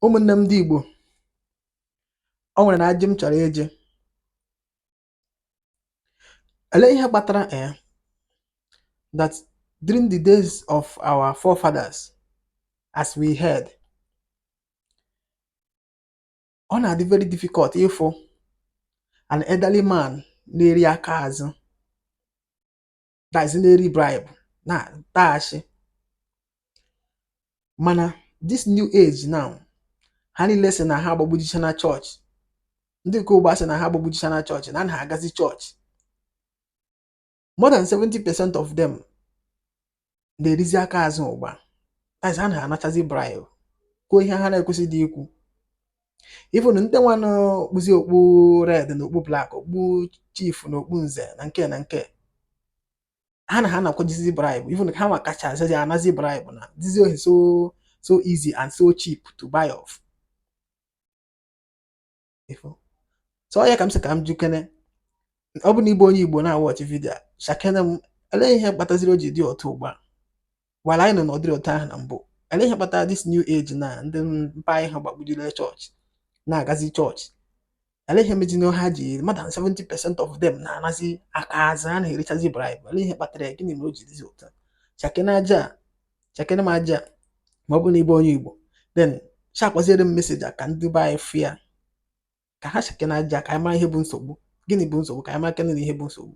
Ụmụ̀nne m ndị Ìgbò, o nwèrè nà ajị m chọ̀rọ̀ ịjị. Èlee ihe kpatara um that during the days of our forefathers as we heard, ọ nà-àdị very difficult ịfụ an elderly man na-eri aka àzụ. that is na-eri bribe na-ataghachi mana this new age now ha niile sị na ha agbagbujicha na chọọchị ndị nke ụgba sị na ha agbagbujicha na chọọchị na ha agazi chọọchị more than 70 percent of them na-erizi aka azụ ụgba that is ha na-anachazi bribe kwuo ihe ha na-ekwesịghị ikwu even ndị nwa na-okpuzi okpu red na okpu black okpu chief na okpu nze na nke na nke ha na ha anakwajizi bribe even ha nwa kacha azazi anazi bribe na-ezizi ohi so easy and so cheap to buy off so ọ ya ka m sị ka m jụkene ọ bụ na ị bụ onye igbo na-awatch video a shakene m elee ihe kpataziri o ji dị otu ugbu a while anyị nọ n'ọdịrị otu ahụ na mbụ elee ihe kpatara this new age na ndị mpa anyị ha gbagbujire chọọchị na-agazi chọọchị elee ihe mejinụ ha ji more than 70 percent of them na-anazi aka azụ ha na-erichazi bribe elee ihe kpatara ya gịnị mere o ji dịzi otu a shakene ajị a, shakene m ajị a, ma ọ bụ na ị bụ onye igbo then sharekwaziere m message a ka ndị be anyị fụ ya ka ha shakene ajị a ka anyị mara ihe bụ nsogbu gịnị bụ nsogbu ka anyị marakene na ihe bụ nsogbu